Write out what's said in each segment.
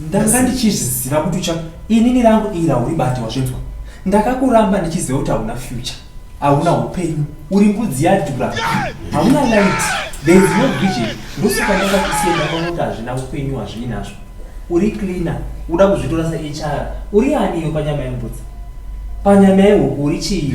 ndanga ndichizviziva kuti ucha inini rangu iri hauribati wazvinzwa ndakakuramba ndichiziva kuti hauna future hauna upenyu uri mbudzi yadhura hauna light there is no vision ndosaka ndanga ndisienda kwakuti hazvina upenyu hazvii nazvo uri cleaner uda kuzvitora sehr uri ani iwe panyama yembudzi panyama yehuku uri chii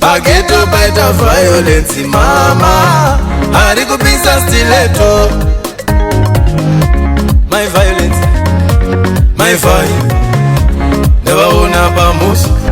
Pageto paita violence mama ari kupisa stileto my violence my violence never own up a moose